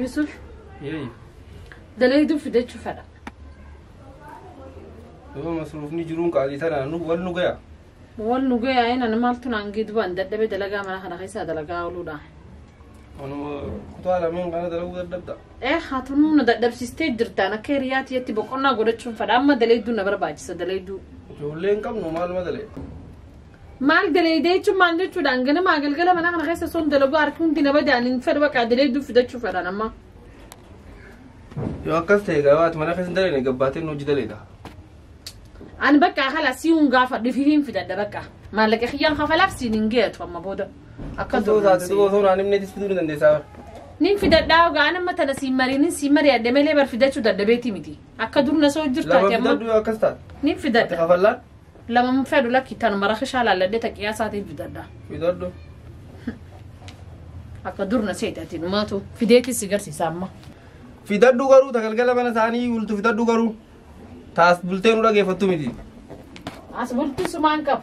Yusuf Yee. dalayduu fidachuu fedha. Yoo masruufni jiruun qaalii tanaan nu wal nu gaya. Wal nu gayaa inni ani maaltu naan giddubaan dadhabee dalagaa mana kana keessaa dalagaa ooluudha. Anuma kutaa lameen kana dalaguu dadhabda. Ee haatunuu na dadhabsiistee jirtaan akka hiriyaa tiyyatti boqonnaa godhachuun fedha amma dalayduu na barbaachisa dalayduu. Ijoollee hin qabnu maaluma dalee. maal daleeydee jechuun maal jechuudhaan ganamaa galgala mana kana keessa son dalaguu harki hundi na badaan hin fedhu baqaa daleeyduu fidachuu fedhan amma Yoo akkas ta'e egaa waati mana keessa dalee gabbaatee nuuji daleedha. ani bakka kala si hun gaafa dhufi hin fidadha bakka maallaqa kiyyaan kafalaaf siin hin geetu amma booda akka Osoo taate duuba osoo naan himneetis fiduu ni dandeessaa. nin fidadhaa ogaa nama tana siin mariinin siin mari'adhe malee bar fidachuu dadhabeeti miti akka dur na soo jirtu Lafa ati amma fidadhu yoo akkas taate. nin Ati fidadha kafallaan Lama hin fedhu lakki tanuma rakishaa laalladhee ta qiyaasaatiif bitadha. Fidadhu. Akka dur na seete ati dhumaatu fideetii si garsiisa amma. Fidadhu garuu ta galgala mana isaanii bultu fidadhu garuu. Taas bultee nu dhageeffattu miti. As bulti sumaan qabu.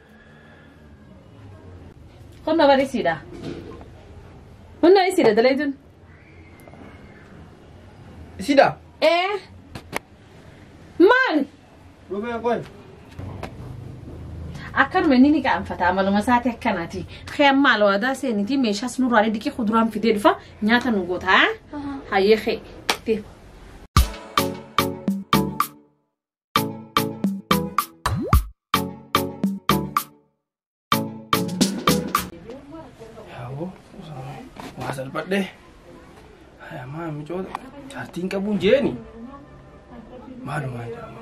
Kunno bar isiidha. Kunno isiidha dalaydun. Isida. Ee. Maal? Dhufee qoy. Akkanuma inni ni qaanfata amaluma isaati akkanaati. Kee maal waadaa seenitii meeshaas nurraalee diqii kuduraan fidee dhufa nyaata nu goota. Hayyee kee. Yaaboo waa salphadhe. Hayamaa micoota jaartiin qabuun jeeni. Maalumaa jedhama.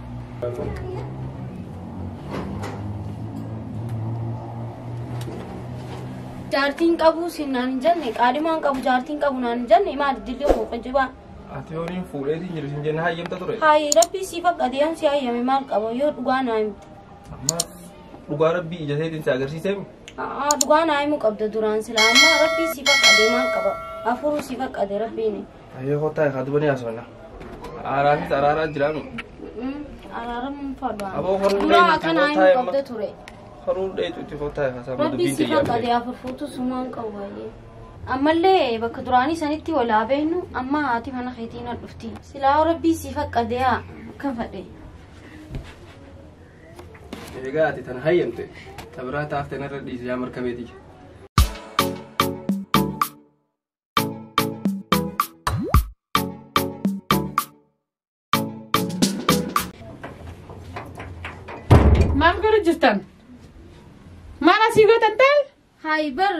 Jaartiin qabu siin naan hin jenne qaadimaan qabu jaartiin qabu naan hin jenne maal dilli koo qajjibaa. Ati horiin fuudheetiin jiru isin jenna hayyamta ture. Hayi rabbii sii fakkate yoon si hayyame maal qaba yoo dhugaa naa himte. Amma dhugaa rabbii ija seetiin si agarsiisee mi? Aa dhugaa naa himuu qabda duraan sila amma rabbii sii fakkate maal qaba afuruu sii fakkate rabbiin. Ayyoo kottaa egaa dubanii haasofna. Araafis araaraa jiraanu. Araaramuun fadhaa. Aboo horuu Duraan dheeyitti akkanaa kottaa hin eemma. qabda ture. Horuu dheeyitti itti kottaa egaa sammuu Rabbi dubbiin si tiyyaa qaqqabe ta'e. afur fuutu sumaan qabu baay'ee. Ammallee bakka duraanii sanitti wal haa beeknu amma haati mana keetiin na dhufti. Silaa rabbii si faqqade haa kan fadhe. Egaa ati tana hayyamte. Tabiraa taafte narra dhiise yaa markabeetii. Maaf gara jirtan? Maal asii gootan ta'e? Hayi bar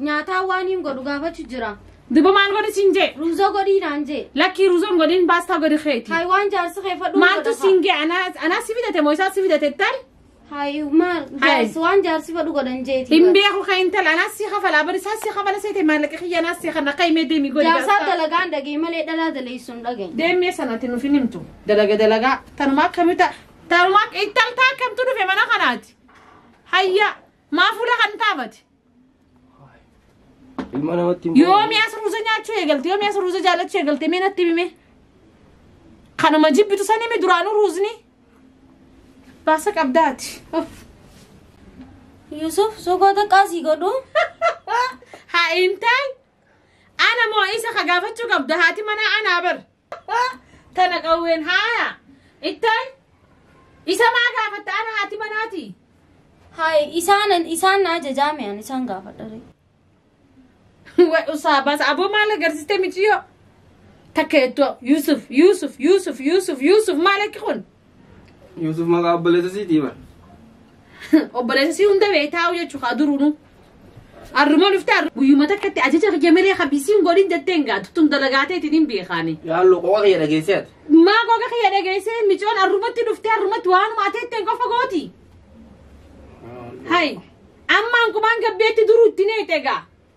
nyaataa waan hin godhu gaafachuu jira. Duba maal godhi siin jee? Ruuzoo godhii naan jee. Lakkii ruuzoon godhin baastaa godhi keeti. Hayi waan jaarsi kee fadhu. Maaltu siin gee anaa anaa si fidate moo isaa si fidate ta'e? Hayi maal Hayi. jaarsi waan jaarsi fadhu godhan jeeti. Hin beeku kan intala anaa si kafala bari isaa si kafala seete maallaqa kiyya anaa si kana akka himee deemi godhi. Jaarsaa dalagaan dhagee malee dhalaa daleessuun dhagee. Deemee sanatti nuuf hin himtu. Dalaga dalagaa tanumaa akkamii ta'a? Tanumaa ittaltaa akkamtu dhufe mana kanaati. Hayya maa fuula kan taabate? Ilma namatti hin Yoomi as ruuza nyaachuu eegalte yoomi as ruuza jaallachuu eegalte mee natti himi mee. Kanuma jibbitu san himi duraanuu ruuzni. Baasa qabdaati. Of. Yusuf sokoo xiqqaa sii godhu. Haa intaay. Ana moo isa ka gaafachuu qabda haati manaa anaa bar. Tana qawween haaya. Ittaan isa maa gaafatta ana haati manaati. Haay isaan isaan na ajajaame an isaan gaafadha. ree. Way usaa baasa aboo maal agarsiiste miciyoo. Takka ittoo Yuusuf Yuusuf Yuusuf Yuusuf Yuusuf maal akki kun? Yuusuf maqaa obboleessa siitii bar. Obboleessa sii hunda beektaa jechuu kaa duruunu. Arrumoo dhuftee arru guyyuma takkatti ajaja kiyya malee habisiin godhin jettee hin gaatu tun dalagaateetiin hin beekaani. Yaallu qoqa kiyya dhageessee ati. Maa goga kiyya dhageessee micoon arrumatti dhuftee arrumatti waanuma ateetteen qofa gooti. Hai. Ammaan kumaan gabbeetti duruu itti neexe egaa.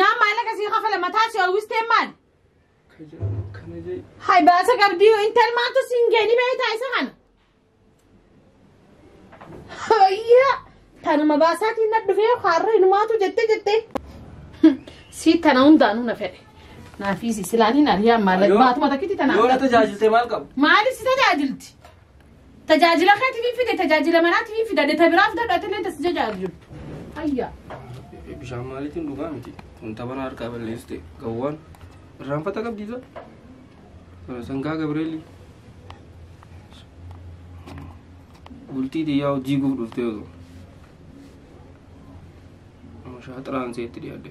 Naan maallaqa sii kafala mataa si hawwistee maali? Hay baasa qabdii intal maaltu siin geeni beektaa isa kana? Hayyaa tanuma baasaatiin na dhufee har'a inumaatu jettee jettee. Sii tana hundaanuu na fedhe. Naafii si silaan hin ari'aa maallaqa baatuma takkitti tanaa. Yoo na tajaajiltee maal qabu? Maaliif si tajaajilti? Tajaajila keetiif hin fide, tajaajila manaatiif hin fida, deta biraaf gadhu ati illee tas jajaajiltu. Ayyaa. Bishaan maaliitiin dhugaa miti. Wanta bana harkaa balleessite gawwaan irraanfata qabdiisa. Sangaa Gabireelii. Bultii xiyyaa hojii guuf dhuftee osoo. Shaaxiraan seetti dhiyaadde.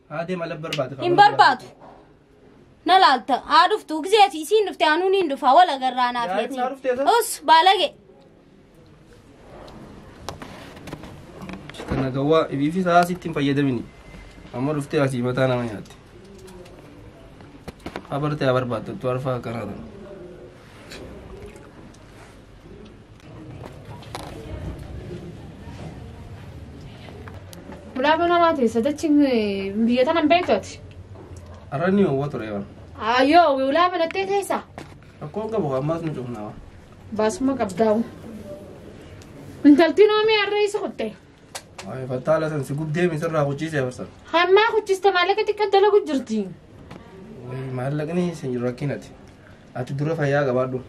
Haa deema lab barbaada. hin barbaadu na laalta haa dhuftu gisee ati isiin dhufte anuun hin dhufa wal agarraa naaf Yaa, jeeti naa dhuftee sa? us baalage Kana gawwaa ibiifi sa'a sitti hin fayyadamini. Amma dhuftee asii mataa nama nyaatti. Haa bartee haa barbaaddattu arfaa akkanaa ta'e. Bulaaboo namaa teessa dachi biyya tana hin beektu ati. Arra ni hawwa ture waan. Ayyoo wiwlaa banattee teessa. Rakkoo qabu ammaas ni cufnaa waan. Baasuma qabdaa'u. Intaltiin oomii harree isa kutte. Ay, fattaala san si gubdee misirraa huchiisee barsan. Hannaa kuchiste maallaqa xiqqaa dalagu jirti. Way, maallaqni si rakkinati. Ati dura fayyaa qabaadhu.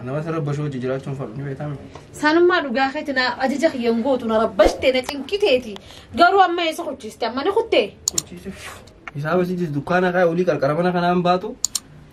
Nama sirra bashoo hojii jiraachuun fadhu ni beekame. Sanummaa dhugaa keeti na ajaja kiyyan gootu na rabbashte na cinqiteeti. Garuu amma eessa kuchiste amma ni kuttee. Huchiisee. Isaa basiitis dukkaana kaa olii qarqara mana kanaan baatu.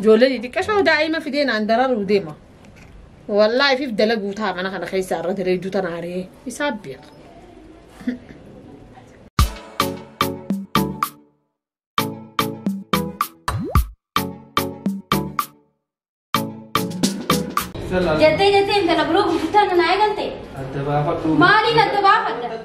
Ijoollee xixiqqashoo daa'ima fidee naan dararuu deema. Wallaahi fif dalaguu ta'a mana kana keessa irra daleedduu tana aree isaa beeka. Jettee jettee intala biroo gurgurtaan na eegalte. Adda baafadhu. Maaliin adda baafadha?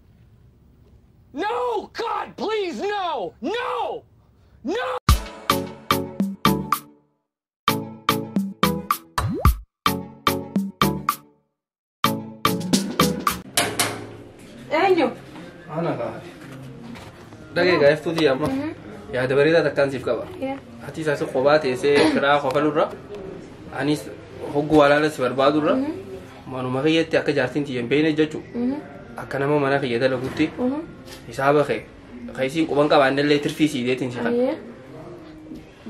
No! God, please, no! No! No! Eenyu? Ana gaafate. Dhagee gaaftuu tiyya amma. Yaada bareedaa takkaan siif qaba. Ati isaas kophaa teessee firaa kofalurra. Anis hogguu walaala si barbaadurra. Manuma kiyyatti akka jaartiin tiyya hin beekne jechu akka nama mana kiyya dalagutti hisaaba kee kan isiin quban qabaanne illee tirfii sii deetiin si kan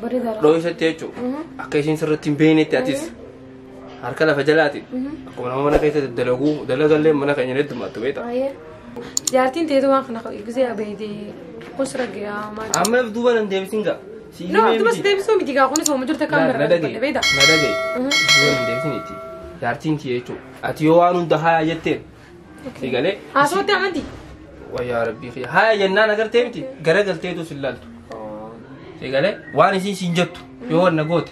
Bareedaadha. dhooysatti jechu akka isiin sirratti hin beeknetti atis harka lafa jalaati akkuma nama mana keessa dalaguu dalagallee mana keenya ni heddumaattu beekta. Baay'ee. Jaartiin teetu waan kana gisee abeeytee kun sirra gayaa maal. Amma duuba nan deebisin gaa. Siif No, himee dumas miti. deebisuu miti gaa kunis hooma jirta kaan Na barbaadde dhagaye. beekta. Na dhagaye. Yoo hin deebisin itti. Jaartiin kiyya jechuudha. Ati yoo waan hunda haaya jetteen. Si galee. Haasawatti amanti. Wayyaa rabbii kiyya. Haaya jennaan agartee miti. Gara galteetu sin laaltu. Si galee. Waan isiin siin jettu. Yoo wanna goote.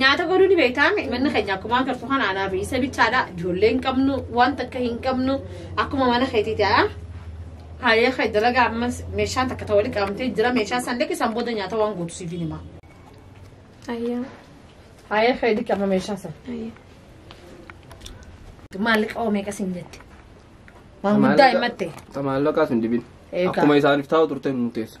Nyaata godhuu ni beektaa manni keenya akkuma agartu kan aanaa fi isa bichaadha ijoollee hin qabnu wanta akka hin qabnu akkuma mana keetiiti haa haayee kee dalagaa ammas meeshaan takka ta'uu qabamtee jira meeshaa san liqi san booda nyaata waan guutu siif hin himaa. Ayyaa. Haayee kee liqi amma meeshaa san. Ayyaa. Maallaqa oo meeqa siin jette? Waan guddaa himatte. Maallaqaa sun dibin. Eegaa. Akkuma isaaniif taa'u turte nu teessa.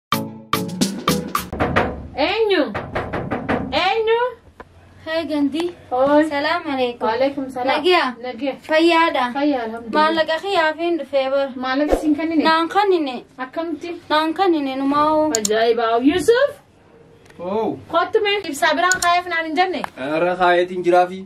Eenyu? Eenyu? Hey Gandhi. Hooy. Salaam alaikum. Waalaikum salaam. Nagiya. Nagiya. Fayyaadha. Fayyaa alhamdulillah. Maallaqa kiyaafiin dhufee bar. Maallaqa siin kennine? Naan kannine. Akkamitti? Naan kannine numaa'oo. Ajaa'iba. Yusuf. Oo. Kottu mee ibsaa biraan kaayeef naan hin jenne. Irra kaayeetiin jiraafi.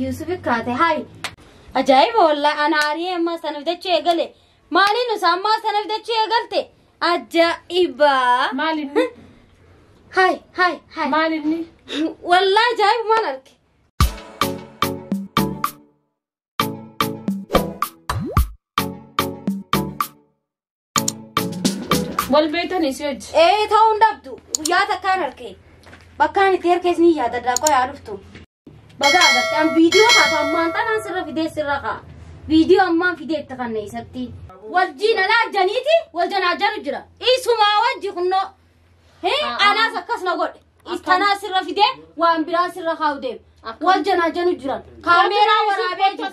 Yuusuf kaate hayi. Ajaa'iba wallaahi ana aariyee ammaa sana bitachuu eegale. Maaliin usa ammaa sana bitachuu eegalte? Ajaa'iba. Maal inni? Hayi hayi hayi. Maal inni? Wallaahi ajaa'iba maal arge? Wal beektan isii hojji. Ee ta'uu hin dhabdu. Guyyaa takkaan harkee. Bakkaan itti harkees ni yaada daakoo yaa dhuftu. Baga agartee an viidiyoo kaatu ammaan tanaan sirra fidee sirra kaa. Viidiyoo ammaan fidee itti kanne isatti. Wajjin alaa janiiti wal janaa janu jira. Isumaa wajji kunnoo. Hee anaas akkas na godhe. Istanaa sirra fidee waan biraa sirra kaa'u deema. Wal janaa janu jiran. Kaameeraa waraabee jiru.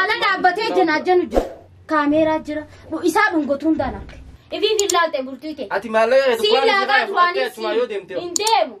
Ala dhaabbatee jenaa jenu jira. Kaameeraa jira. Isaa dhungotuun danaa. Ifii fi laalte bultii kee. Ati maallaqa Sii laataa duraanii sii hin deemu.